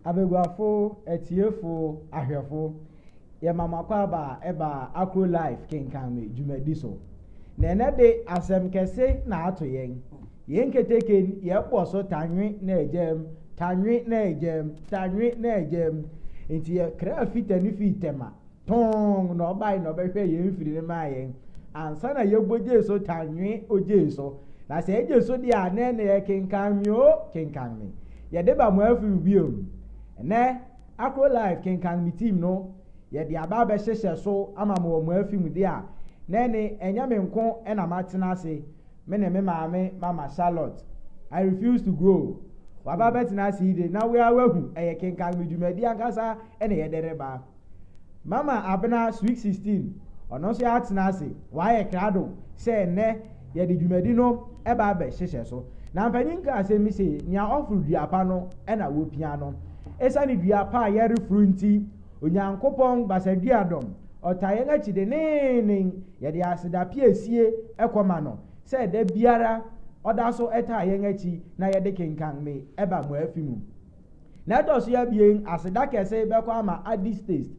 Abaguafo, atiefo, ahwɛfo, yɛma mo akwaaba a ɛba Akro Life kenkan me dwumadi so. Na ɛnɛ de asɛm kɛse na ato yɛn. Yɛn keteke yɛbɔ so tanwe na agyam, tanwe na agyam, tanwe na agyam. Nti yɛkra fita ne fii tɛma. tɔnn na ɔbae na ɔbɛhwɛ yɛn mfiri no maa yɛn ansa na yɛbɔ gye so tanwe ogye so na sɛ ɛgye so deɛ a nɛ na yɛkenkan nwoo kenkan me yɛde ba mo afiri biom nɛ akro life kenkan me team no yɛde aba abɛhyehyɛ so ama mo wɔ mo afi mu deɛ a nɛ ne ɛnyɛ me nko ɛna matena ase me ne me maame mama Charlotte I refuse to go waba bɛtena ase yi de na wea wahu ɛyɛ kenkan me dwumadi ankasa ɛna yɛde reba. Mama Abena Sweet Sixteen, ɔno nso yɛatena ase, wayɛ krado sɛ nnɛ yɛde dwumadi no ba abɛhyehyɛ so. Na mpanyin ka asɛm bi se, Nea ɔforo dua pa no na wopia no. Esiane dua pa a yɛreforo nti, Onyankopɔn basadua dɔm, ɔtaa yɛn akyi denneennen. Yɛde aseda piesie kɔma no sɛ da biara ɔda so taa yɛn akyi na yɛde kenkan me ba mo afi mu. Na ɛtɔ so abien, aseda kɛse bɛkɔ ama Addis taste.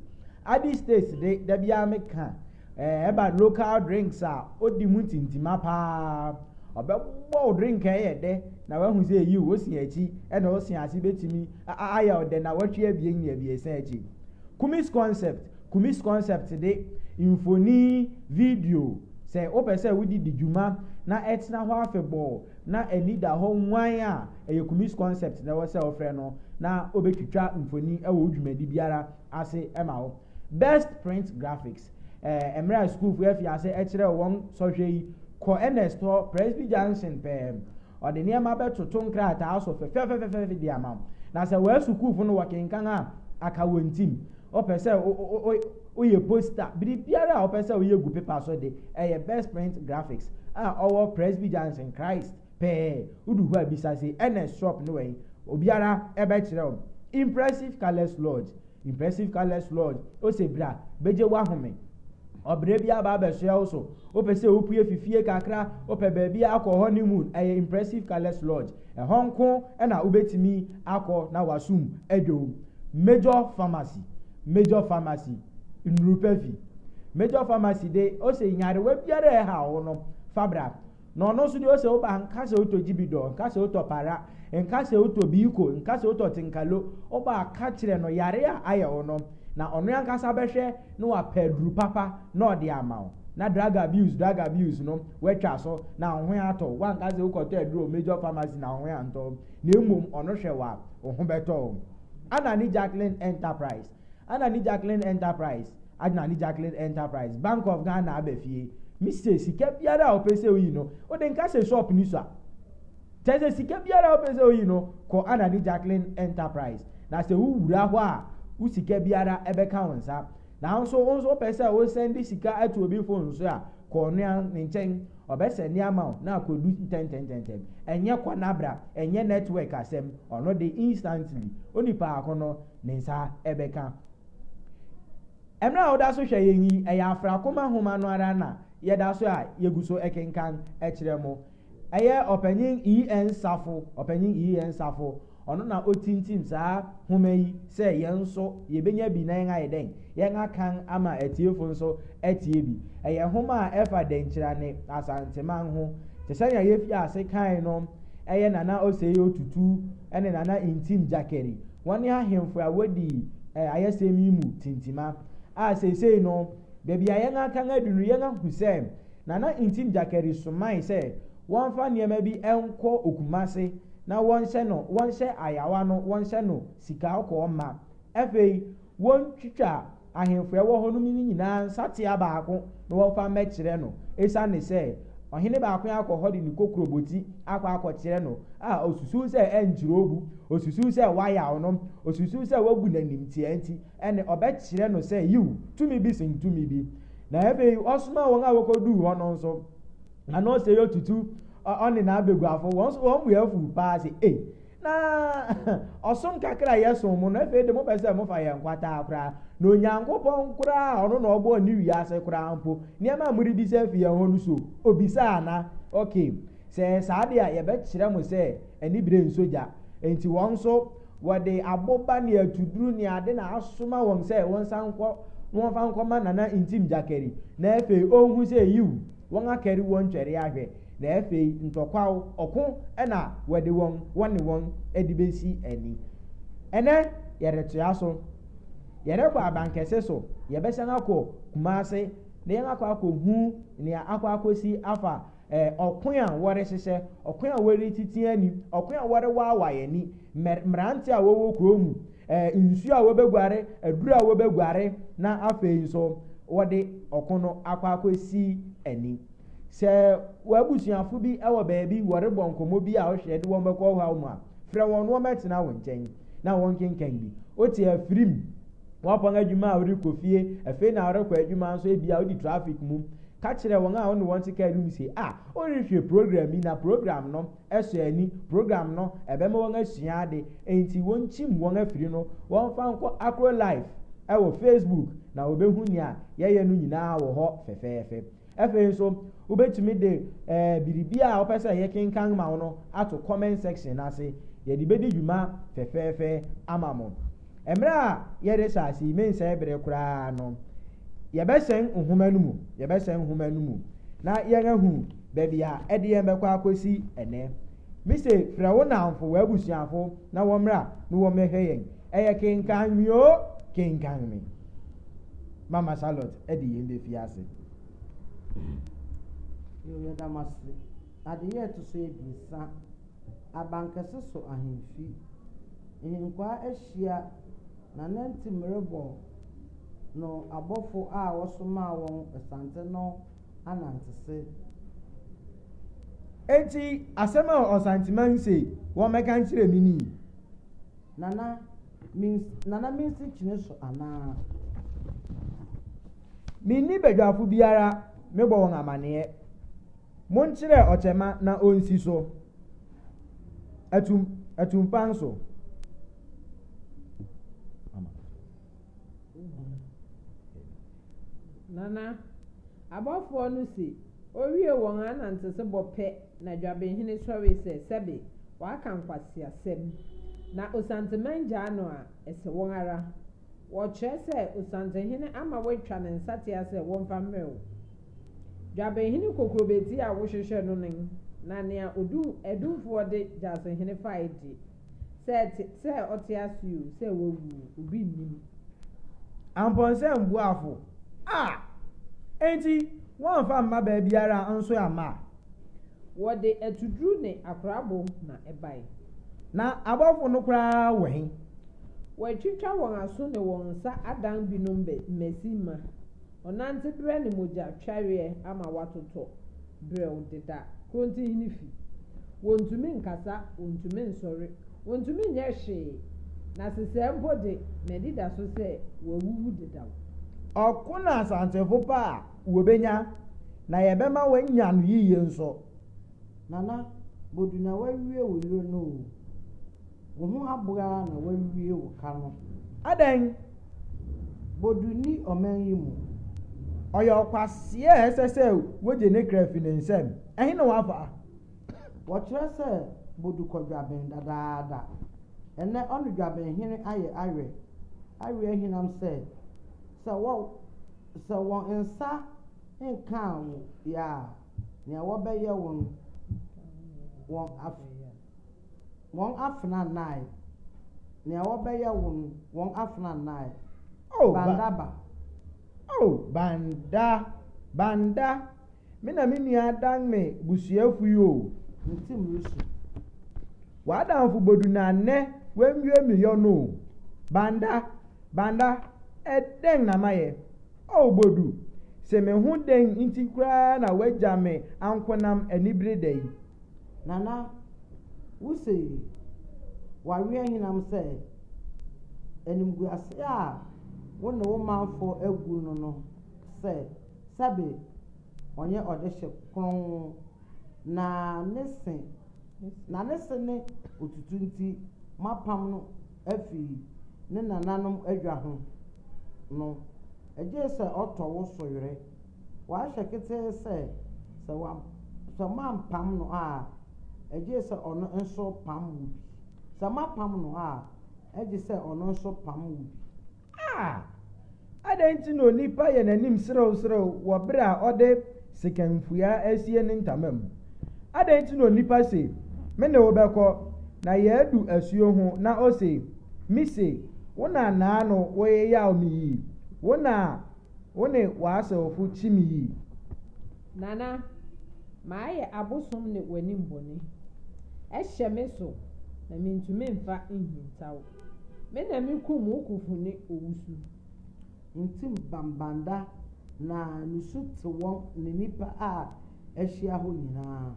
Addis taste de, da biara meka, eh, ɛba local drinks a odi mu ntintima paa. Ɔbɛbɔ wo drink a ɛyɛ dɛ na wahu sɛ yiw, wo se akyi na wo se ase betumi ayɛ wo dɛ nnawɔtwe abien ne abiɛsa akyi. Kumis concept, Kumis concept de, mfoni, video, sɛ wopɛ sɛ wode di dwuma na ɛtena hɔ afebɔɔ, na ani da hɔ nwann a, ɛyɛ Kumis Concept na ɛwɔ sɛ wofrɛ no na obetwitwa mfoni wɔ wo dwumadi biara ase ma wo. Best Print Graphics, eh, Mmerɛ a sukuufo afi ase kyerɛw wɔn sɔhwɛ yi, kɔ Ernest hɔ, Presby Junction pɛɛ. Ɔde nneɛma bɛtoto nkrataa so fɛfɛɛfɛfɛfɛfɛ de ama wo. Na sɛ wɔasukuufo no wɔkenkan a, aka wɔn tim. Wopɛ sɛ wo, wo, wo, Woyɛ poster, biribiara a wopɛ sɛ woyɛ gu pepa so de, ɛyɛ Best Print Graphics a ɔwɔ Presby Junction, Christ pɛɛ. Wodu hɔ a bisa se, Ernest shop ne wɛn? Obiara bɛkyerɛ wo. Impressive Colours Lodge, Impressive Colours Lodge, ose bra begye w'ahome. Ɔbrɛ bi aba abɛsoɛ wo so. Wopɛ sɛ wopue fi fie kakra, wopɛ baabi akɔ honeymoon, ɛyɛ Impressive Colours Lodge. Ɛhɔ nko na wobetumi akɔ na w'asom adwo. Major Pharmacy, Major Pharmacy, Nnuru Pa Fi. Major Pharmacy de, ose nyarewa biara a ɛhaw wo no, fa bra. Na ɔno nso deɛ ose wo ba, nka sɛ wotɔ gyibidɔ, nka sɛ wotɔ para, nka sɛ wotɔ biiko, nka sɛ wotɔ tenkalo, wo ba a, ka kyerɛ no yareɛ a ayɛ wo no, na ɔno ankasa bɛhwɛ na wapɛ aduru papa na ɔde ama wo. Na drug abuse, drug abuse no, woatwa so, na wo ho atɔ wo. Woanka sɛ wokɔtɔ aduru wɔ Major Pharmacy na wo ho antɔ wo, na mmom ɔno hwɛ wo a, wo ho bɛtɔ wo. Ana ne Jacqueline Enterprise Ana ne Jacqueline Enterprise Ana ne Jacqueline Enterprise Bank of Ghana aba fie Me se sika biara a ɔpɛ sɛ oyi no ode nka sɛ shop ni sua Kyɛ sɛ sika biara a ɔpɛ sɛ oyi no kɔ Ana ne Jacqueline Enterprise Na sɛ wo wura hɔ a wo sika biara ɛbɛka wo nsa Nanso wo nso wopɛ sɛ wo sɛnde sika to obi fon so a, kɔ ɔnoa ne nkyɛn, ɔbɛsɛnde ama wo na akodu ntɛntɛntɛntɛm. Ɛnyɛ kɔ na bra, ɛnyɛ network asɛm, ɔno de instantly, onipa ako no ne nsa bɛka. Mmerɛ a woda so hwɛ yɛn yi, ɛyɛ Afrakoma nwoma no ara na yɛda so a yɛgu so kenkan kyerɛ mo. Ɛyɛ Ɔpanyin EN Nsafo, Ɔpanyin EN Nsafo, ɔno na otintim saa nhoma yi sɛ yɛn nso yebenya bi na yɛn ayɛ dɛn? Yɛn akan ama atiefo nso atie bi. Ɛyɛ nhoma a ɛfa Dankyira ne Asanteman ho. Te sɛ nea yefii ase kae no, ɛyɛ Nana Osei Otutu ne Nana Ntim Gyakeri, wɔne ahemfo a wodi ayɛsɛm yi mu tintima. A Seesei no, baabi a yɛn akan adu no, yɛahu sɛ Nana Ntim Gyakari somae sɛ wɔmfa nneɛma bi nkɔ Okumase na wɔnhyɛ no wɔnhyɛ ayawa no wɔnhyɛ no sikakɔɔ ma. Afei wɔntwitwa ahemfo a ɛwɔ hɔ nom no nyinaa nsatea baako na wɔmfa mmɛkyerɛ no esiane sɛ ɔhene baako akɔ hɔ de ne kokuroboti akɔ akɔkyerɛ no a osusuw sɛ ɛnkyerɛ obu, osusuw sɛ wayaw no, osusuw sɛ wagu no animtiaa nti. Ɛnne, ɔbɛkyerɛ no sɛ, Yiw, tumi bi sen tumi bi. Na afei ɔsomaa wɔn a wokoduu hɔ no nso, na na ɔsɛe ɔtutu, ɔ, ɔne n'abaguafo. Wɔn nso wɔn bo afuw paa se, Ei, na ɔsom kakra a yɛsom mo no, afei de mopɛ sɛ mofa yɛn kwataa koraa. Na Onyankopɔn koraa a ɔno na ɔbɔɔ ne wiase koraa mpo, nneɛma a morebisa afi yɛn hɔ no, so obisaa ana? Okay, sɛ ɛyɛ saa de a, yɛbɛkyerɛ mo sɛ anibere nsɔ gya. Enti wɔn nso Wɔde aboba ne atuduru ne ade na asoma wɔn sɛ wɔnsan nkɔ na wɔmfa nkɔma Nana Ntim Gyakari, na afei onhu sɛ yiw, wɔakari wɔn twɛre ahwɛ, na afei ntɔkwaw, ɔko na wɔde wɔn, wɔne wɔn de besi ani. Ɛnnɛ, yɛretoa so. Yɛrekɔ abankɛse so, yɛbɛsan akɔ Kumase na yɛakɔ akohu nea akɔ akosi afa Ɛɛ, ɔko a wɔrehyehyɛ, ɔko a wɔretiti ani, ɔko a wɔrewaawae ani, mmer, mmerante a wɔwɔ kurow mu, ɛɛ, nsu a wɔbeguare, aduru a wɔbeguare, na afei nso wɔde ɔko no akɔ akosi ani. Sɛ w'abusuafo bi wɔ baabi, wɔrebɔ nkɔmmɔ bi a wohwɛ de wɔn bɛkɔ ɔhaw mu a, frɛ wɔn na wɔmmɛtena wo nkyɛn na wɔnkenkan bi. Wote afiri mu. Woapɔn adwuma a wode kɔ fie, afei na worekɔ adwuma nso, ebia wodi trafik mu. Ka kyerɛ wɔn a wo ne wɔn te kar no mu se, Ah, worehwɛ program bi, na program no sɔ ani. Program no bɛma wɔasua ade, enti wonkyim wɔn afiri no, wɔmfa nkɔ akɔ live wɔ Facebook, na wɔbehu nea yɛyɛ no nyinaa wɔ hɔ fɛfɛɛfɛ. Afei nso, wobɛtumi de eh, biribi a wopɛ sɛ yɛkenkan ma wo no ato comment section no ase. Yɛde bɛdi dwuma fɛfɛɛfɛ ama mo. Mmerɛ a yɛde hyɛ ase yi, mensɛe bere koraa no, yɛbɛhyɛn nhoma no mu. Yɛbɛhyɛn nhoma no mu na yɛn ahu baabi a ɛde yɛn bɛkɔ akɔsi ɛnɛ. Mise frɛ wo nnamfo, w'abusuafo na wɔmmra na wɔmmɛhwɛ yɛn. Ɛyɛ kenkan me o, kenkan me. Mama Charlotte ɛde yɛn bɛfie ase. Yoo yɛda mo ase. Adeyɛ a ɛto so abiɛsa, Abankɛse so ahemfi. Ahenkwaa ahyia na nantim rebɔ no abɔfo a wɔsomaa wɔn asante no anantese. Enti asɛm a Ɔsanteman se wɔmmɛka nkyerɛ me ni. Nana, Mins Nana Mensi kyene so anaa? Menni badwafo biara mebɔ wɔn amaneɛ Monkyerɛ ɔkyɛma na ɔnsi so Atum, atumpan so Nana, abɔfoɔ no se Owie wɔn anantesebɔ pɛ na Dwabehene sɔre sɛ, Sɛbe, Waka nkwaseasɛm. Na Osanze mangyaa no a, ɛsɛ wɔn ara. Wɔkyerɛ sɛ Osanzehene ama wɔatwa ne nsatea sɛ wɔmfa mmrɛ wo. Dwabenhene Kokurobeti a wohwehwɛ no no, na nea odum Adumfoɔ de Gyasehene fae de, sɛ ɛte sɛ ɔte ase o, sɛ wawu o, obi nnim. Amponsɛm Boafo, Ah! Enti woamfa amma baabiara a nso amma a? Wɔde atuduru ne akorabo na ɛbae. Na abɔfo no koraa wɔ he? Wɔatwitwa wɔn aso ne wɔn nsa adan binom mmasi mma ɔnante berɛ ne mogya twareɛ ama wɔatotɔ berɛw deda Krontinhene fi. Wɔntumi nkasa, wɔntumi nsɔre, wɔntumi nyɛ hwee, na sesɛɛ mpo de, m'anidaso sɛ wɔawuwu dedaw. Ɔko na asansefo pa a wɔbɛnya, na yɛbɛma wɔanya no yiye nso. Nana bodu na wawie wo yere no oo wo ho aboaa na wawie wo ka no. Adɛn? Bodu nni ɔman yi mu. Ɔyɛ ɔkwaseɛ a ɛsɛ sɛ wogye ne kra fi ne nsam. Ɛhe na wafa? Wɔkyerɛ sɛ Bodu kɔ dwaben dadaada. Ɛnnɛ ɔne dwabenhene ayɛ awerɛ. Awerɛ ahinam sɛ, sɛ Sɛ wɔn nsa nkaa wo yɛ a, nea wɔbɛyɛ wo no, wɔn af wɔn afena nnae. Nea wɔbɛyɛ wo no, wɔn afena nnae. Oh, Bandaba. Oh, Banda, Banda, Me na me nua adan me busuafo yi o. Me tsim rusu. W'adamfo bodu na ndɛ woennwie me yɔ no o. Banda, Banda, eh dɛn na mayɛ? Oh Bodu, se me ho dɛn ntsi koraa na woegya me ankonam aniber da yi? Nana, wo se wɔawea henam sɛ animguase a wo ne wo manfo agu no no sɛ. Sɛbe ɔnyɛ ɔdehye kronn, na ne se na ne se ne otutu nti moapam no afi ne nananom adwa ho no, egye sɛ ɔtɔ wo so were. Wahwɛ ketee sɛ, sɛ wa, sɛ moampam no a, egye sɛ ɔno nso pam wo bi. Sɛ moapam no a, egye sɛ ɔno nso pam wo bi. A Adɛn nti na onipa yɛ n'anim serewserew wɔ bere a ɔde sekanfua asie ne ntama mu? Adɛn nti na onipa se, Me ne wo bɛkɔ, na yɛadu asuo ho, na ose, Mise, wo na nnaano woyeyaw me yi, wo na wo ne w'asewfo kyi me yi? Nana, mayɛ abosom ne w'anim bɔne. Ɛhyɛ me so, na mintumi mfa nhintaw. Me na mikum wo kofun ne owusu. Ntim Bambanda na nusu te wɔn ne nnipa a ahyia hɔ nyinaa.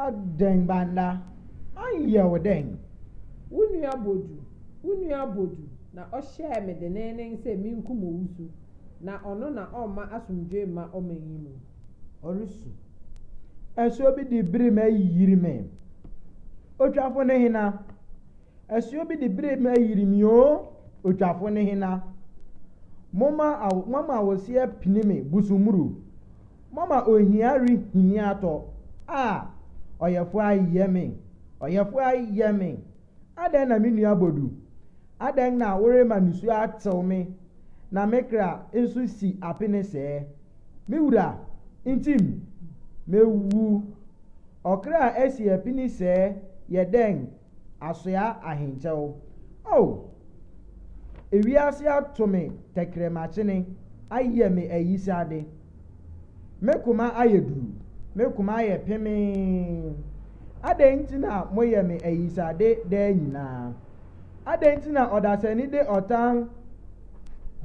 Adɛn Banda, ɔnyɛ wo dɛn? Wo nua Bodu, wo nua Bodu na ɔhyɛɛ me denneennen sɛ minkum Owusu, na ɔno na ɔmma asomdwoe mma ɔman yi mu. Ɔresu. Ɛso bi de bere ma ayi yiri me. Otwafo ne hena? Asuo bi de bire ma ayiri me oo, otwafo ne hena? Moma awo, moama awoseɛ pini me busumuru, moama ohia rehini atɔ, ah, ɔyɛfoɔ ayɛ me, ɔyɛfoɔ ayɛ me, adɛn na me nua Bodu, adɛn na worema nisuo atew me, na me kra nso si apene sɛɛ? Me wura, ntim, mɛwu, ɔkra a asi apini sɛɛ yɛ dɛn? asoa ahenkyɛw. Oh! Ewiase ato me tɛkrɛmakyene, ayɛ me ayisade. Me koma ayɛ duru, me koma ayɛ pemee. Adɛn nti na moyɛ me ayisade daa nyinaa? Adɛn nti na ɔdasani de ɔtan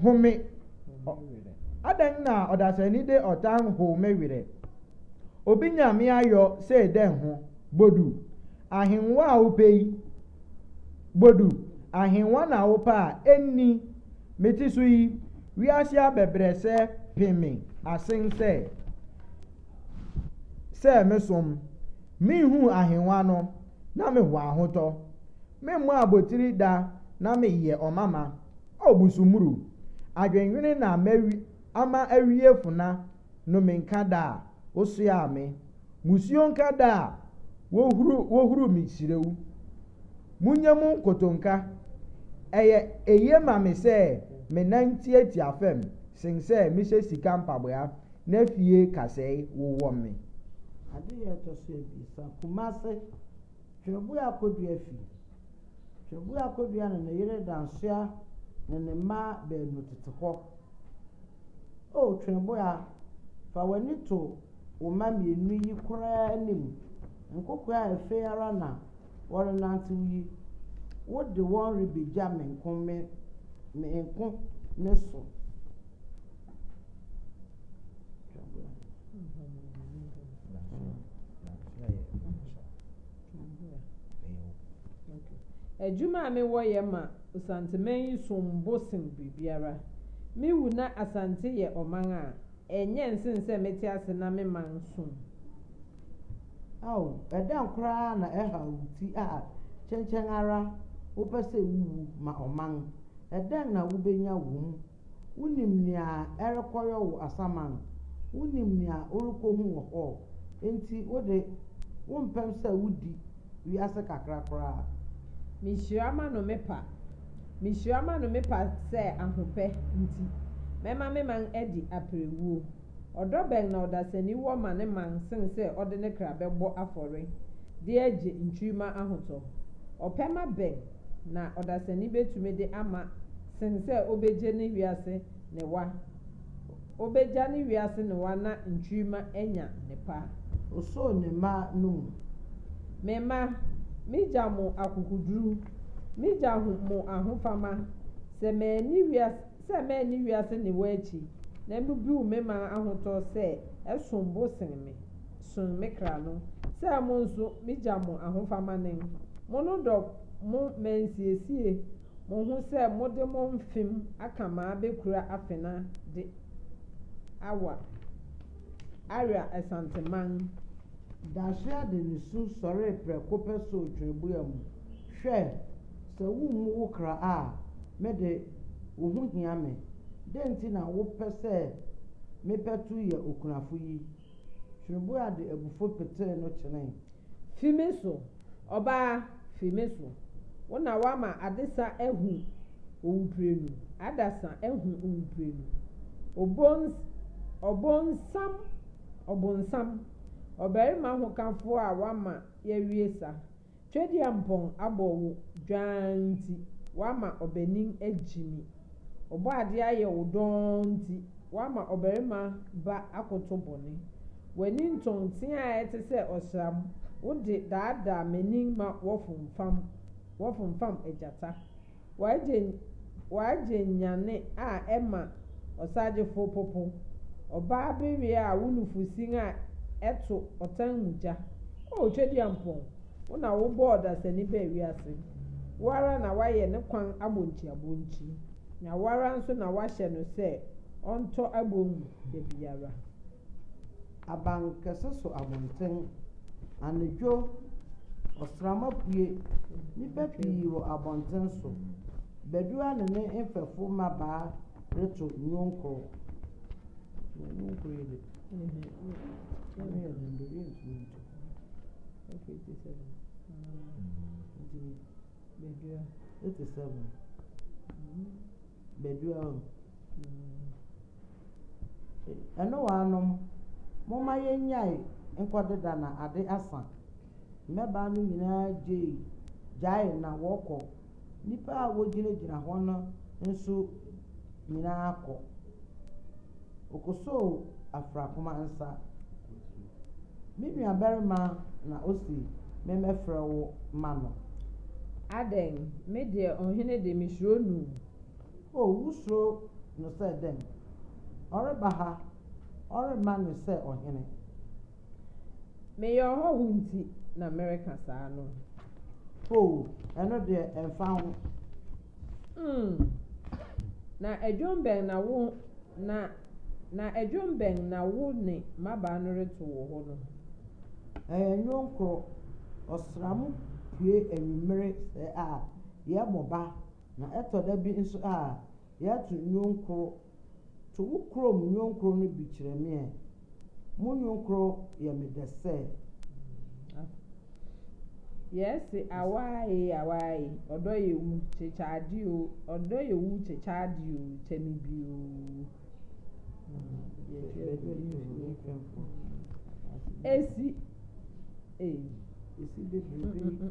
home Adɛn na ɔdasani de ɔtan how me werɛ? Obi nya me ayɔ sei dɛn ho, Bodu? Ahengua a wopɛ yi, Bodu, ahengua na wopɛ a, enni. Mete so yi, wiase abɛbrɛsɛ pe me asen sɛ sɛ mesom. Minhuu ahengua no, na mewɔ ahotɔ. Memmɔ abotiri da na meyɛ ɔmama. O Busumuru, adwennwene na ama awie fona no me nka da a wosoaa me musuo nka da a wohuru wohuru me kyerɛ wo munya mu nkotonka ɛyɛ eye ma me sɛ me nan tiatia fam sen sɛ me hyɛ sika mpaboa na fie kasɛe wowɔ me. Adehyeɛ ɛtɔ so abiɛsa Kumasi Twerɛboɔ Akodua Fi. Twabua Kodua ne ne yere Dansoa ne ne mma baanu tete hɔ. O Twabua, fa w'ani to wo mma mmienu yi koraa anim, nkokoaa a afei ara na wɔrenantew yi, wode wɔn rebegya me nko me me nko me so. Adwuma a mewɔ yɛ ma Osanteman yi som bo sen biribiara. Me wu na Asante yɛ ɔman a, ɛnyɛ nsen sɛ mete ase na me man som. Ao, ɛdɛn koraa na ɛhaw wo ti a kyɛnkyɛn ara wopɛ sɛ wuwu ma ɔman? Ɛdɛn na wubenya wom Wonim nea ɛrekɔyɔ wo asaman. Wonim nea worekohu wɔ hɔ. Enti wo de, wompɛm sɛ wudi wiase kakra koraa. Mihyira m'ano me pa. Mihyira m'ano me pa sɛ ahopɛ nti mɛma me man adi aperewuo. Ɔdɔ bɛn na ɔdasani wɔ ma ne man sen sɛ ɔde ne kra bɛbɔ afɔre de agye nkyirimma ahotɔ? Ɔpɛma bɛn na ɔdasani betumi de ama sen sɛ obegye ne wiase newa. Obegya ne wiase newa na nkyirimma anya ne paa. Osoo ne mma no mu. Me mma, migya mo akokoduru, migya ho mo ahofama, sɛ manni wias sɛ manni wiase newa akyi, na mubiw me man ahotɔ sɛ ɛsom bo sen me, sen me kra no, sɛ mo nso migya mo ahofama nen, monnodɔ mo mansiesie, Mohu sɛ mode mo mfem aka m'abɛkura afena de awa Aria Asanteman. Dasoa de ne su sɔree prɛko pɛ soo twerɛbua mu, Hwɛ! Sɛ wommu wo kra a, me de, wo ho hia me. Dɛn nti na wopɛ sɛ mepɛ to yɛ okunafo yi? Hwebua de abufuw petee no kyenee. Fi me so, ɔbaa, fi me so! Wo na woama adesa ahu owuprenu, adasa ahu owuprenu. Obons, ɔbonsam, ɔbonsam, ɔbarima hokafo a woama yɛawie sa. Tweduampɔn abɔ wo dwaan nti, woama ɔbanin agyimi. Ɔbɔadeɛ ayɛ wo dɔnn nti, woama ɔbarima ba akoto bɔne. W'ani ntɔn nteaa a ɛte sɛ ɔsram, wode daadaa m'ani ma wɔfomfam, wɔfomfam agyata. W'agye nyane a ɛma ɔsagyefo popo, Ɔbaa bereɛ a wo nufusin a ɛto ɔtan mu gya. O Tweduampɔn, wo na wobɔɔ ɔdasani baa wiase, Wo ara na woayɛ ne kwan abonkyiabonkyi, Na wo ara nso na woahyɛ no sɛ ɔntɔ abon mu da biara. abankɛse so abɔnten. Anadwo, ɔsram apue. Nnipa pii wɔ abɔnten so. Badua ne ne mfɛfo mmabaa reto nnwom kɔ. Ɛnoaa nom, momma yɛnnyae nkɔdeda na ade asa. Mmabaa no nyinaa gyei gyaee na wɔkɔ. Nnipa a wogyinagyina hɔ no nso nyinaa kɔ. Okosoo Afrakoma nsa. Me nuabarima na ose memmɛfrɛ wo mma no. Adɛn, me deɛ ɔhene de, mesuro no o. O, wosuro no sɛ dɛn? Ɔreba ha, ɔremma no sɛ ɔhene. Meyɛ ɔhɔho nti na mereka saa no. O, ɛno deɛ, ɛmfa ho. Mm. Na ɛdwom bɛn na wo, na, na ɛdwom bɛn na wo ne mmabaa no reto wɔ hɔ no? Ɛyɛ nnwom koro. Ɔsram pue anwummere sɛɛ a, yɛbɔ ba. Na ɛtɔ da bi nso a, yɛato nnwom koro. To wo kurom nnwom koro no bi kyerɛ me ɛ. Mo nnwom koro yɛ me dɛ sɛ. Yɛse awaae awaae, ɔdɔ yɛ wu, kyekyɛ ade o, ɔdɔ yɛ wu, kyekyɛ ade o, kyɛ me bi o. Esi, eh. Esi bebrebe.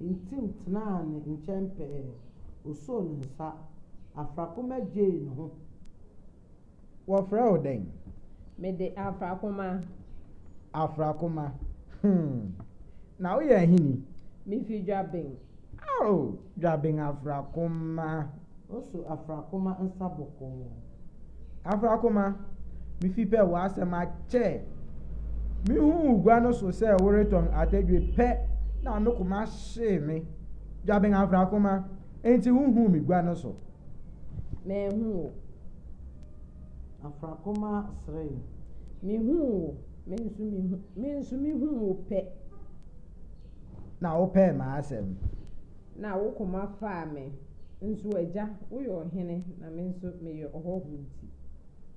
Ntim tenaa ne nkyɛn pɛɛ. Osoo ne nsa. Afrakoma gyee ne ho. Wɔfrɛ wo dɛn? Mede Afrakoma. Afrakoma, hmm. Na woyɛ ahini? Mifi Dwaben. Oh, Dwaben Afrakoma. Oso Afrakoma nsa bɔkɔɔ. Afrakoma, mifi pɛ w'asɛm akyɛ. Mihuu wo gua no so sɛ woretɔn atadwe pɛ na me koma hyee me. Gyaben Afrakoma, enti wuhuu me gua no so? Manhu wo. Afrakoma seree. Mihuu wo, me nso mihu, me nso mihuu wo pɛ. Na wopɛɛ m'asɛm. Na wo koma faa me. Nso Agya, woyɛ ɔhene, na me nso meyɛ ɔhɔho nti.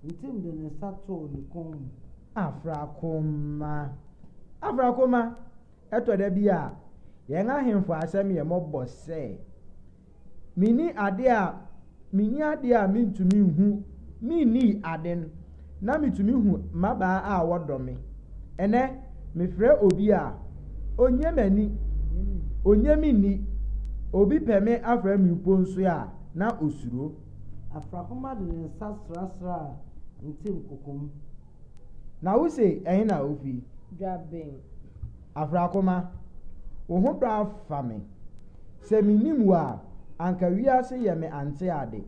Ntim de ne nsa too ne kɔn mu. Afrakoma, afrakoma, ɛtɔ da bi a yɛn ahemfo asɛm yɛ mmɔbɔ sɛ, Minni adeɛ a, minni adeɛ a mentumi nhu, menni aden. na mitumi hu mmabaa a wɔdɔ me. Ɛnnɛ, mefrɛ obi a, onnye m'ani, onnye me nni. Obi pɛ me afrɛ me mpo nso a, na osuro. Afrahoma de ne nsa srasraa Ntim kokom. Na wose ɛhe na wufi? Dwabeng. Afrakoma, wo ho dɔ afa me. Sɛ minnim wo a, anka wiase yɛ me ante ade.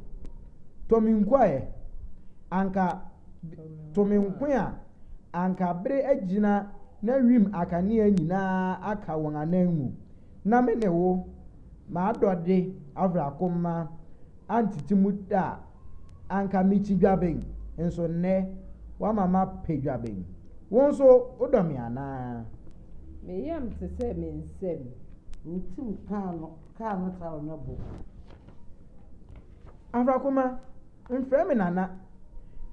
Tɔ me nkoa ɛ, anka to me nko a, anka bere agyina na wim akanea nyinaa aka wɔn anan mu, na me ne wo, m'adɔde Afrakoma, antete mu da. anka mikyi dwaben, nso nnɛ woama mapɛ dwaben. Wo nso wodɔ me anaa? Me yam te sɛ me nsam. Me tirim kaa no kaa no taa ɔnyɛ bo. Afrakoma, mfrɛ me Nana.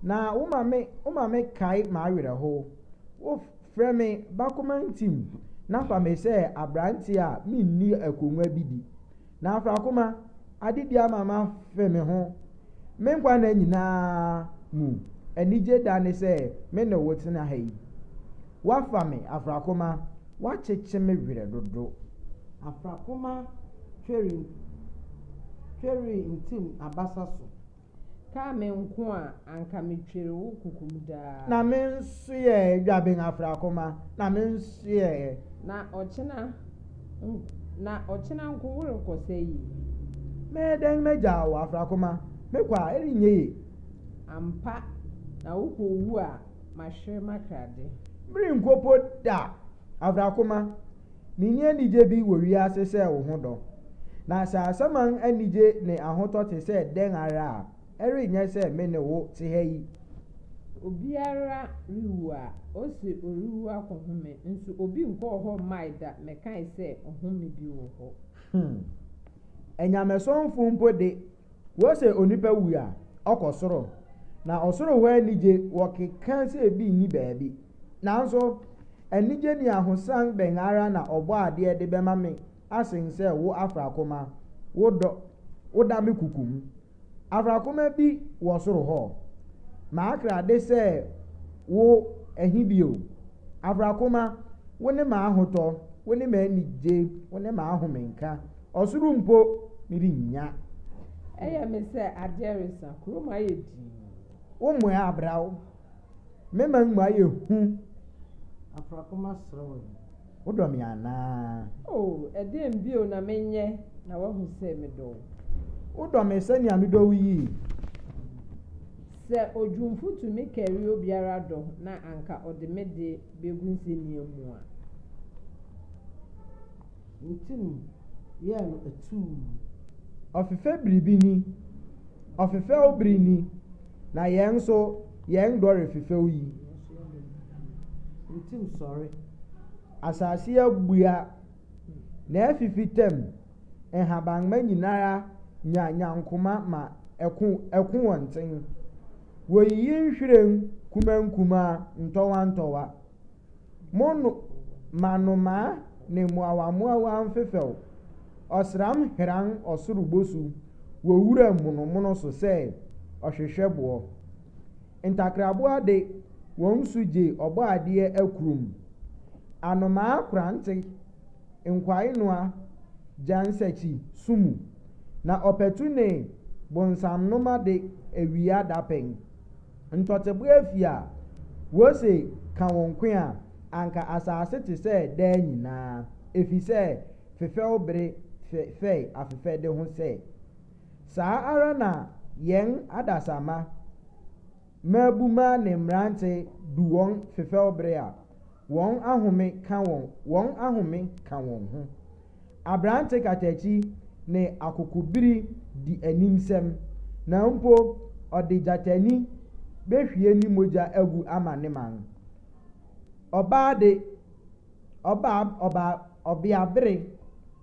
Na woma me woma me kae m'awerɛhow. Wo frɛ me Bakoma ntim na fa me sɛ aberante a minni akongua bi di. Na afrakoma ade bi ama mafe me ho. Me nkwa nna nyinaa mu anigye da ne sɛ me ne wo tena ha yi. Woafa me, afrakoma, woakyekye me werɛ dodo. Afrakoma tweri ntini abasa so. Kaa me nko a anka metwer wo kokom daa. Na me nso yɛ dwaben afrakoma na me nso yɛ. Na ɔkyena na ɔkyena nko worekɔ sɛ yi. Mɛyɛ dɛn magyaa wo afrakoma mekɔ a ɛrenyɛ yie. Ampa na wokɔ wu a mahwere m'akrade. Merenkopo da afrakoma. Minni anigye bi wɔ wiase sɛ wo ho dɔ. Na sɛ asaman anigye ne ahotɔ te sɛ dɛn ara a, ɛrenyɛ sɛ me ne wo te ha yi. Obiara rewu a, ose ɔrewu akɔhome, nso obi nkɔɔ hɔ mmae da mmɛkae sɛ ɔhome bi wɔ hɔ. Hmm. Anyamesomfo mpo de, Wɔ sɛ onipa wu a ɔkɔ soro na ɔsoro hɔ anigye wɔ keka sɛ ebi nni baabi. Nanso anigye ne ahosan bɛn ara na Ɔbɔadeɛ de bɛma me asen sɛ wo afrakoma, wo dɔ, woda me kuku mu. Afrakoma bi wɔ soro hɔ. M'akra de sɛ wo ɛhe bio? Afrakoma, wo ne m'ahotɔ, wo ne m'anigye, wo ne m'ahomenka. Ɔsoro mpo merennya. Ɛyɛ me sɛ adeɛ resa, kurom ayɛ dinn. Wo mmoa abra wo, me man mu ayɛ hu. Afrakoma sere wo yi, wodɔ me anaa? O, ɛdeɛn bio na menyɛ na woahu sɛ medɔ wo? Wodɔ me sɛnea medɔ wo yi? Sɛ odwumfo tumi kari obiara dɔ na anka ɔde me de begu nsenia mu a. ne tirim yɛɛ no atuu. Ɔfefɛ bere bi ni, ɔfefɛw bere ni, na yɛn nso yɛn dɔ refefɛw yi. Ne tirim sɔre. Asase abua, na afifi tɛm, nhabamma nyinara nya nyankoma ma ɛko ɛko wɔn nten. Woyiyi nhwiren kumaa nkumaa, ntɔwa ntɔwa. Mo no ma nnomaa ne mmoawammoawa mfefɛw, ɔsram heran ɔsoro bosu wɔ wuram monomono so sɛ ɔhwehwɛ boɔ. Ntakraboa de, wɔn su gye Ɔbɔadeɛ akurum. Anomaa korante, nkwaenoa, gya nsakyi su mu, na ɔpatu ne bonsamnoma de, awia dapɛn. Ntɔteboa afi a wose ka wo nko a, anka asase te sɛ daa nyinaa, efisɛ fefɛw bere fɛe afefɛde ho sɛ. Saa ara na yɛn adasamma, mmabumma ne mmerante du wɔn fefɛw bere a, Wɔn ahome ka wɔn wɔn ahome ka wɔn ho. Aberante katakyi ne akokobiri di animsɛm, na mpo ɔde gyatani behwie ne mogya agu ama ne man. Ɔbaa de, ɔbaa ɔbaa ɔbeabere.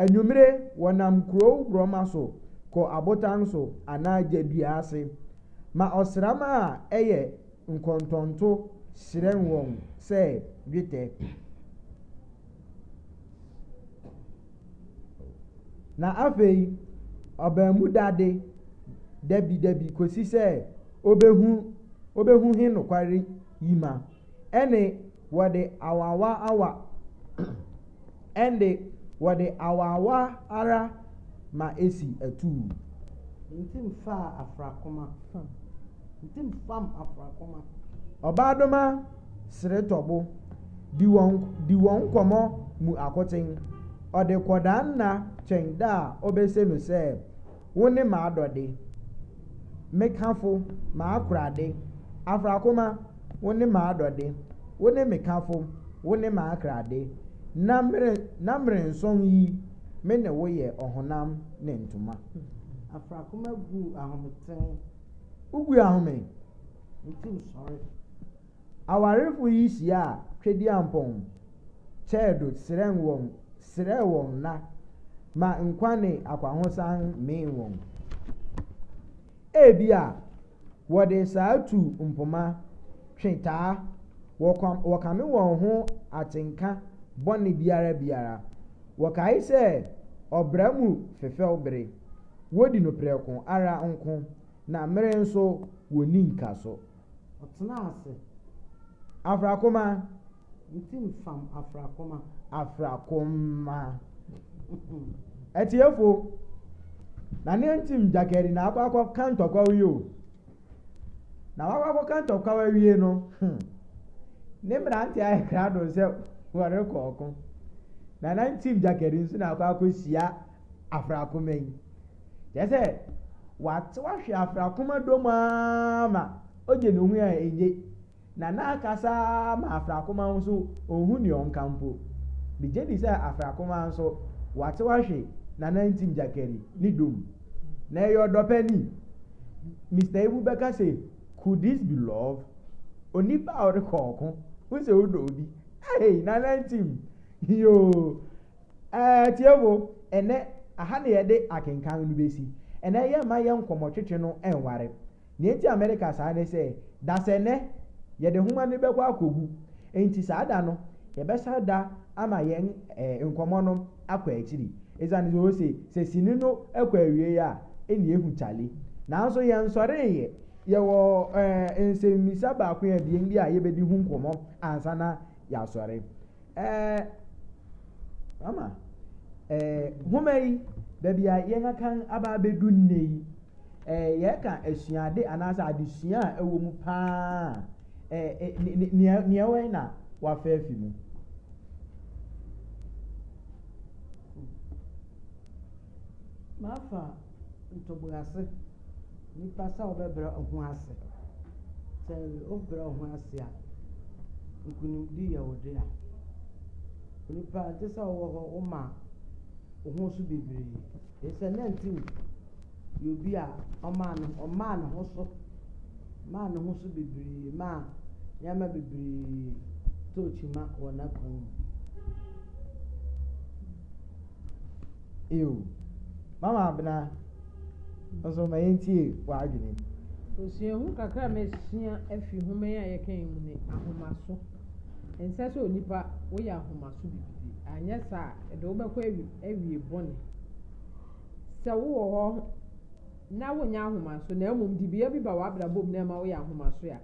Anwummere, wɔnam kurow borɔma so kɔ abotan so anaa gya dua ase ma ɔsram a ɛyɛ nkɔntɔnto hyerɛn wɔn sɛ dwetɛ. Na afei ɔbaamu da ade da bi da bi kosi sɛ obehu obehu he nokware yi ma. ɛnde wɔde awawaawa, ɛnde wɔde awaawa ara ma esi atuu. Ntim faa afrakoma fam, ntim fam afrakoma. Ɔbaadoma seretɔbo di wɔn di wɔn nkɔmmɔ mu akoten, ɔde kɔdaa nna twɛn da a obese no sɛ. Wo ne m'adɔde, me kafo, m'akorade, Afrakoma, wo ne m'adɔde, wo ne me kafo, wo ne m'akrade, Na mere, na merensɔn yi, me ne wo yɛ ɔhonam ne ntoma. Afrakoma gu ahome tee. Wogu ahome. Nti sɔre. Awarefo yi hyiaa Tweduampɔn, Kyɛɛdo serɛn wɔn serɛɛ wɔn nna ma nkwa ne akwahosan mee wɔn. Ebia wɔde saa tu mpoma, twe taa, wɔkam, wɔkame wɔn ho atenka bɔne biara biara. Wɔkae sɛ ɔbra mu fefɛw bere, wodi no prɛko ara nko, na mmere nso wonni nkaso. Ɔtena ase. Afrakoma. Ne ti mfam afrakoma. Afrakoma. Atiefo, na ne ntim gyakari na akɔ akɔ ka ntɔkwaw yi o. Na wakɔ akɔ ka ntɔkwaw awie no, hmm, ne mmerante ayɛ krado sɛ wɔrekɔ ɔko. Na na ntim gyakari nso na akɔ akɔ hyia afrakoma yi. Kyerɛ sɛ, ɔatsew ahwe afrakoma dɔm ara ma ogye no ho a enye, na n'akasa ara ma afrakoma no so onnhu dza ɔnka mpo. Megye dzi sɛ afrakoma so ɔatsew ahwe Nanantsim Gyakari ne dɔm. Na ɔyɛ ɔdɔpɛ ni. Mister Ibu bɛka sɛ, Could this be love? Onipa a ɔrokɔ ɔko, wo se wodɔ obi, hey, Nanantsim, yoo! Ɛɛ, tiefo, ɛnnɛ, aha na yɛde akenkan no besi. Ɛnnɛ, yɛmma yɛn nkɔmmɔtwetwe no nware. Nea enti a mereka saa ne sɛ, dasɛnnɛ, yɛde nhoma no bɛkɔ akogu. Enti saa da no, yɛbɛsan da ama yɛn nkɔmmɔ no akɔ akyiri, esiane sɛ ose sɛ sini no kɔ awiei a, ɛnna ehu kyale. Nanso yɛnsɔree ɛ. Yɛwɔ nsɛmmisa baako abien bi a yebedi ho nkɔmmɔ ansa na yɛasɔre. Ɛɛ, mama. Ɛɛ, nwoma yi, baabi a yɛn akan aba abɛdu nnɛ yi, ɛɛ, yɛka asuade anaasɛ adesua a ɛwɔ mu paa ɛɛ, nea nea ɛwɔ yi na wafa afi mu. Mafa ntoboase nipa sɛ ɔbɛbrɛ ɔho ase. Sɛ wobrɛ wo ho ase a, nkunimdi yɛ wo dea. Onipa ɛnte sɛ wowɔ hɔ woma wo ho so bebree. Ɛsɛ nantew yɛ obi a ɔmaa ne ɔmaa ne ho so maa ne ho so bebree maa nneɛma bebree tɔɔ kyima wɔ n'akwan mu. Ew. Mama Abena, wo nso ma yɛntie w'adwene. Osuahu kakra a masua afi nhoma yi a yɛka yi mu ne ahomaso. Ɛnsɛ sɛ onipa woyɛ ahomaso gidigidi. Anyɛ saa a, ɛde wo bɛkɔ awi awie bɔne. Sɛ wowɔ hɔ na wonyɛ ahomaso na mmom dibea bi ba w'abrabɔ mu na ɛma woyɛ ahomaso a,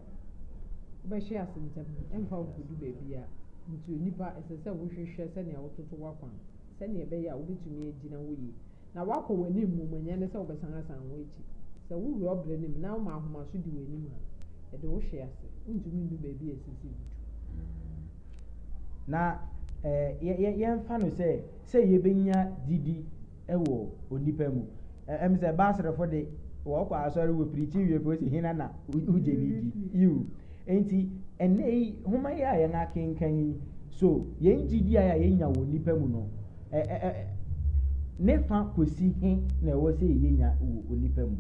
wobɛhwe ase ntɛm. Ɛmfa wo nkodu baabiara. Nti onipa, ɛsɛ sɛ wohwehwɛ sɛnea wototo w'akwan sɛnea ɛbɛyɛ a wobetumi agyina hɔ yie na woakɔ w'anim mmom, ɛnyɛ ne sɛ wobɛsan asan wo akyi. Sɛ wowura ɔbrɛ no mu na woma ahomaso di w'anim a, ɛde wo hwe ase. Wuntumi nnu baabi a ɛsɛ sɛ wudu. Na yɛmfa no sɛ, sɛ yebenya gyidi wɔ onipa mu. Ɛm sɛ Basrefo de, wɔkɔ asɔre wɔ pirikyi wie pɛ wɔsi hena na wogye ne di. Yiw. Enti, ɛnnɛ yi nhoma yi a yɛn akenkan yi, so yɛn gyidi a yɛanya wɔ onipa mu no, ɛ, ɛ, ɛ, ne fã kosi he na ɛwɔ sɛ yenya wɔ onipa mu?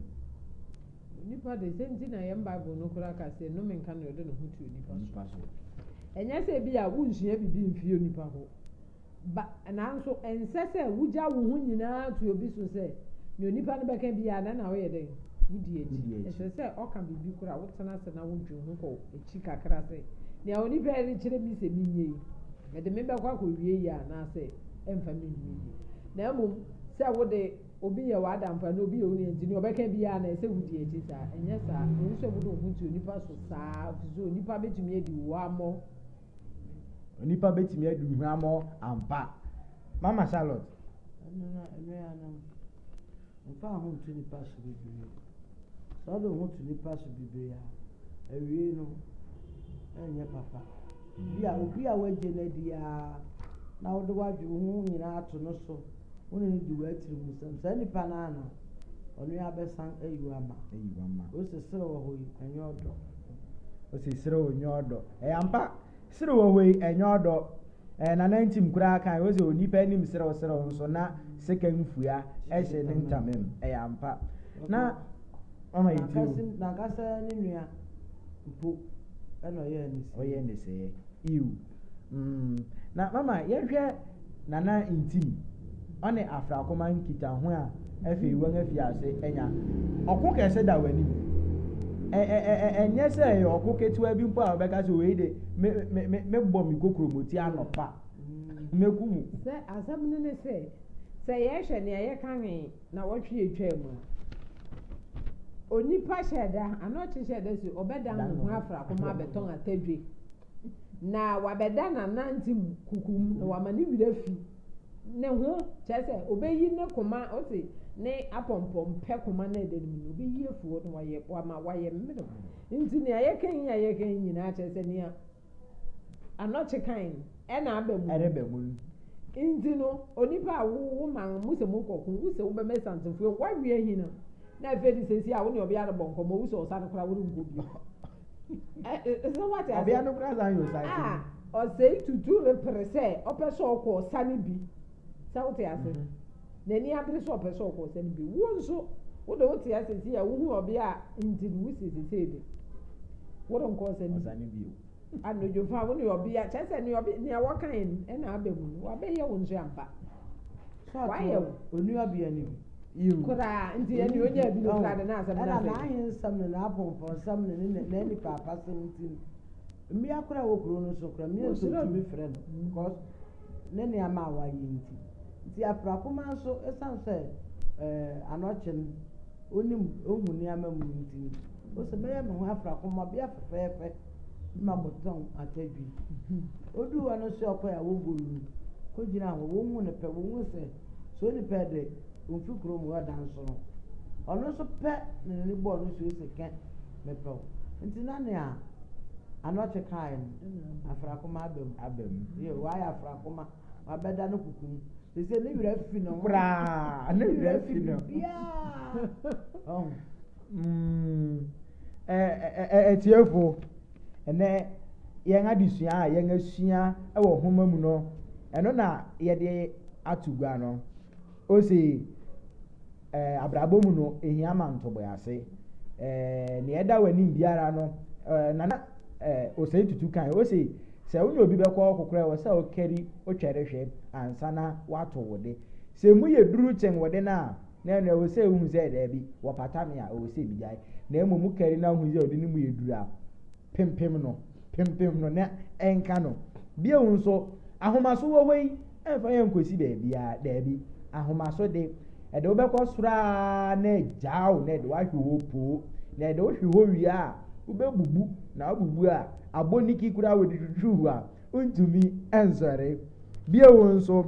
Onipa de, sɛ nti na yɛn Bible no koraa ka sɛ, Nnome nka nea ɔde ne ho to onipa so. Ɛnyɛ sɛ ebia wonsua biribi mfii onipa hɔ. Ba, nanso ɛnsɛ sɛ wugyaw wo ho nyinaa to obi so sɛ, nea onipa no bɛka biara na ɛna woyɛ dɛn? Wudi akyi. Ɛsɛ sɛ ɔka biribi koraa a, wotena ase na wudwen ho kɔ akyi kakra sɛ, 'Nea onipa yi rekyerɛ me sɛ menyɛ yi, ɛde me bɛkɔ akowie yiye anaasɛ ɛmfa me nwie yiye? Na mmom sɛ wo de, obi yɛ w'adamfo anaa obi yɛ wo nua nti, nea ɔbɛka biara na ɛsɛ sɛ wudi akyi saa. Ɛnyɛ saa. Ɛnsɛ sɛ wode wo ho to onipa so saa, efisɛ onipa betumi adi wo wammɔ. Onipa bɛtumi adi hwammɔ ampa. Mama Charlotte. Ɛno na ɛno ya no. Mfa ho nto nipa so bebree. Sɛ ɔde ho to nipa so bebree a, awie no ɛnyɛ papa. Bi a obi a wagye no adi ara na wode wadwe wo ho nyinaa ato no so, wo ne no di w'atiri mu sɛm. Saa nipa no ara na ɔno abɛsan ayi wama. Ayi wama. Wosesere wɔ hɔ yi, ɛnyɛ ɔdɔ. Ɔsi serew nyɛ ɔdɔ. Ɛyɛ ampa. Serew wɔ hɔ yi, ɛnyɛ ɔdɔ. Ɛɛ Nana Ntim koraa kae, ɔse onipa anim serew serew nso na sekan fua hyɛ ne ntama mu. Ɛyɛ ampa. Na ɔma yɛ tiri wo. N'ankasa ne nua mpo na ɔyɛɛ ne see. Ɔyɛɛ ne see. Ew. Mm, na mama yɛnhwɛ Nana Ntim ɔne Afrakoma nkitaho a afei wɔafi ase anya. Ɔko kɛse da wɔn anim. Ɛnyɛ sɛ ɛyɛ ɔko ketewa bi mpo a wɔbɛka sɛ wei de mebɔ me kokuromoti anɔpa mɛku mu. Sɛ asɛm no ne sɛ, sɛ yɛhwɛ nea yɛka he na wɔtwe atwa mu a, onipa hyɛ da, anɔkye hyɛ da si ɔbɛdan ne ho afrakoma abɛtɔn atadwe. na wabɛda n'anandze mu kuku mu, na wama ne werɛ afi ne ho, kyerɛ sɛ, obeyi ne koma, ɔte ne apɔmpɔmpɛ koma no ɛda no mu no, obeyi afi hɔ na wayɛ, wama wayɛ mmerɛw. Nti nea yɛka yi a yɛka yi nyinaa kyerɛ sɛ nea anɔkye kan no ɛna aba mu. Ɛreba mu no. Nti no, onipa a wo wo man mo sɛ mo kɔko, wo sɛ wobɛma santefoɔ, woawe ahinam. Na afei de sɛsi a wo ne ɔbea rebɔ nkɔmmɔ, wo sɛ ɔsane koraa worenkɔ bio. ɛsɛ wate ase ɔbea no kura saa yɛ ɔsan a ɔsɛe tutu repere sɛ ɔpɛ sɛ ɔkɔ ɔsa no bi sɛ wote ase mhm. n'ani abere sɛ ɔpɛ sɛ ɔkɔ ɔsa no bi wo nso wode wote ase si a wohu ɔbea a nti no wosi sesei de worenkɔ ɔsa no bi anodwofa wo ne ɔbea kyɛ sɛ nea wɔkae no ɛna aba mu no wabɛyɛ wo nso ampa wayɛ wo onua bea no bi Yiw, koraa, enti yɛn de onya bi no kura de n'asɛm no afɛ. Ɛna n'ahensɛm ne n'apɔmpɔnsɛm ne ne nɛ n'anipaapasɛm nti no, mmea koraa a ɛwɔ kurow no so koraa, mmea nso tumi frɛ no because ne nneɛma a wayɛ nti. Nti Aprakomaa nso, esiane sɛ eh, anɔkye no, onim, ohu nneɛma mu nti no, ose, mɛyɛ me ho afrakomma, ɔbea fɛfɛɛfɛ, ma motɔn atadwi. Oduu hɔ no nso ɔkɔe a wogoluu, kogyinaa hɔ, wɔhu no pɛ, wɔhu sɛ So onipa de omfi kurom hɔ da nso no, ɔno nso pɛ na n'ani bɔɔ no so yi se kɛ mepɛw. Nti na nea Anɔkye kae no, afrakoma aba mu. Aba mu. Yo, wayɛ afrakoma. Wabɛda no kuku mu. Te sɛ ne werɛ afi ne ho. Koraa. Ne werɛ afi no. Biaa. Ɔho. Mm. Atiefo. Ɛnnɛ, yɛn adesua a yɛasua wɔ nhoma mu no, ɛno na yɛde ato gua no. Ose, ɛɛ, abrabɔ mu no, ehia ma ntoboase. Ɛɛ, nea ɛda w'anim biara no, ɛɛ, nana ɛɛ, osei tutu kan. Ose, sɛ wo ne obi bɛkɔ ɔkokorɛ wɔ sɛ wokari wotwɛre hwɛ ansa na woato wo de. Sɛ emu yɛ duru kyɛn wo de no a, Na ɛno ɛwɔ sɛ wohu sɛ daabi, wɔpata me a, ɛwɔ sɛ migyae. Na mmom mokari na wohu sɛ ɔde ne mu yɛ duru a, pempem no, pempem no na ɛnka no. Bio nso, ahomaso wɔ hɔ yi, ɛmfa yɛn nkosi baabiara. Daabi, ahomaso de, ɛde wo bɛkɔ soro ara na agyaa wo, na ɛde wo ahwe hɔ poo. Na ɛde wo hwe hɔ wie a, wobɛbubu, na wobubu a, abɔniki koraa a wɔde twitwiw hɔ a, ntumi nsɔre. Bio nso,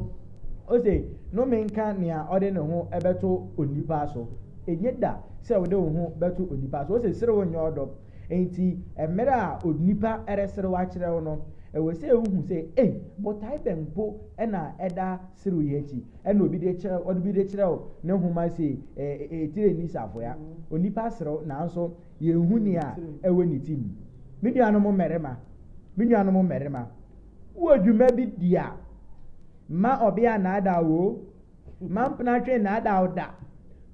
ose, Nnome nka nea ɔde ne ho bɛto onipa so. Enye da sɛ wode wo ho bɛto onipa so. Ose, Serew nyɛ ɔdɔ. Enti, mmere a onipa reserew akyerɛ wo no, ɛwɔ sɛ wuhu sɛ, ei, botae bɛn mpo na ɛda serew yi akyi? Ɛna obi de kyerɛw, ɔde bi de kyerɛw ne nhoma se, Ee, Tirenii Safoa. Onipa serew, nanso Yenhu nea ɛwɔ ne ti mu. Me nuanom mmarima, me nuanom mmarima, wɔ dwuma bi di a, mma ɔbea nnaadaa wo o, mma mpenatwe nnaadaa wo da.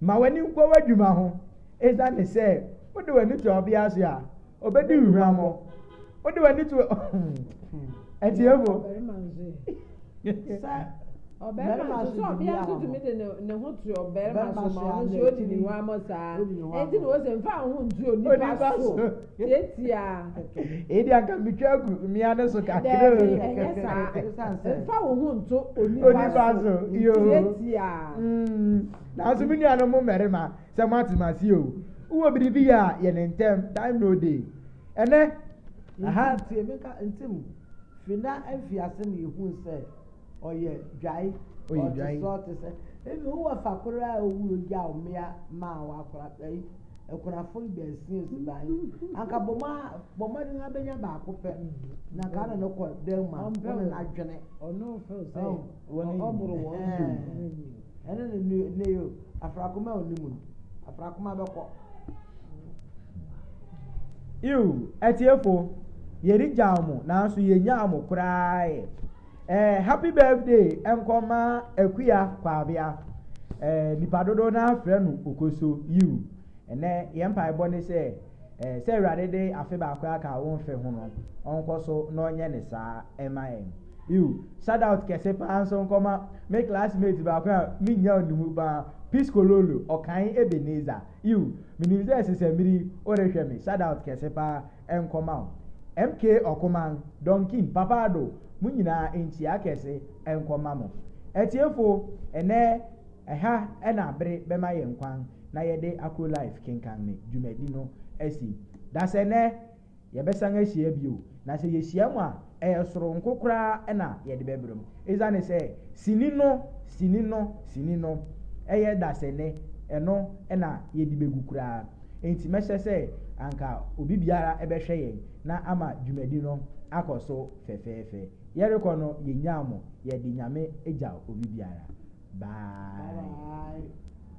Ma w'ani nkɔ w'adwuma ho, esiane sɛ wode w'ani to ɔbea so a, obedi wo huammɔ. wode w'ani to atiefo ɔbɛrima nso sɛ ɔbea nso tumi de ne ho to ɔbɛrima so ma ɔno nso odi ne wa mɔ saa eti na ɔsɛ nfa ho ntu onipa so tietia. edi anka mitwa agu mmea ne so kakra. dɛbi ɛnyɛ saa nfa wo ho nto onipa so tietia. Mm. nanso mi nuanom mmarima sɛ mo ate ma se o wowɔ biribi yɛ a yɛ ne ntɛm time no day Ɛnɛ, ɛha ntie me nka ntim fi na mfiase na yɛhuu sɛ ɔyɛ dwae, ɔte sɛ ɔte sɛ ebi wowɔ fa koro a owu ogyaw mmea maa wakora ɛyi akunafo yi baasia si ban anka bɔ mu a bɔ mmɔden abɛnya baako pɛ na nka na no kɔ dan mu a ɔne n'adwene ɔno fɛw sɛ wɔn ɔboro wɔn Ɛno na ɛnu ɛnɛ yi o. Afrakoma a ɔni mu no, afrakoma bɛkɔ. Iw, atiefo, yɛregyaw mo, nanso yɛnyaa mo koraa ɛ. Eh, happy birthday nkɔma akuya kwabea. Eh, nipa dodoɔ no afrɛ no okoso, yiw. Ɛnnɛ, yɛn mpaebɔ ne sɛ, eh, sɛ Awurade de afe baako aka wo mfe ho no, ɔnkɔ so na ɔnyɛ ne saa ɛma yɛn. Ew, shout out kɛse paa nso nkɔma me classmate baako a mennya ne mu paa, Piscololo, Ɔkan Ebenezer. Ew, menim sɛ sesamiri worehwɛ me, shout out kɛse paa nkɔma wo. MK Ɔkoman, Donkin, Papa Ado, mo nyinaa nkyia kɛse nkɔma mo. Atiefo, ɛnnɛ ɛha na bere bɛma yɛn kwan. na yɛde Akrolife kenkan me dwumadi no asi. Dasɛnnɛ, yɛbɛsan ahyia bio, na sɛ yehyiam a, ɛyɛ soronko koraa na yɛde bɛbrɛ mu. Esiane sɛ sini no, sini no, sini no, yɛ dasɛnnɛ, ɛno na yɛde begu koraa nti, mɛhyɛ sɛ anka obi biara bɛhwɛ yɛn na ama dwumadi no akɔ so fɛfɛɛfɛ. Yɛrekɔ no, yennyaa mo. Yɛde Nyame gyaw obi biara. Bye.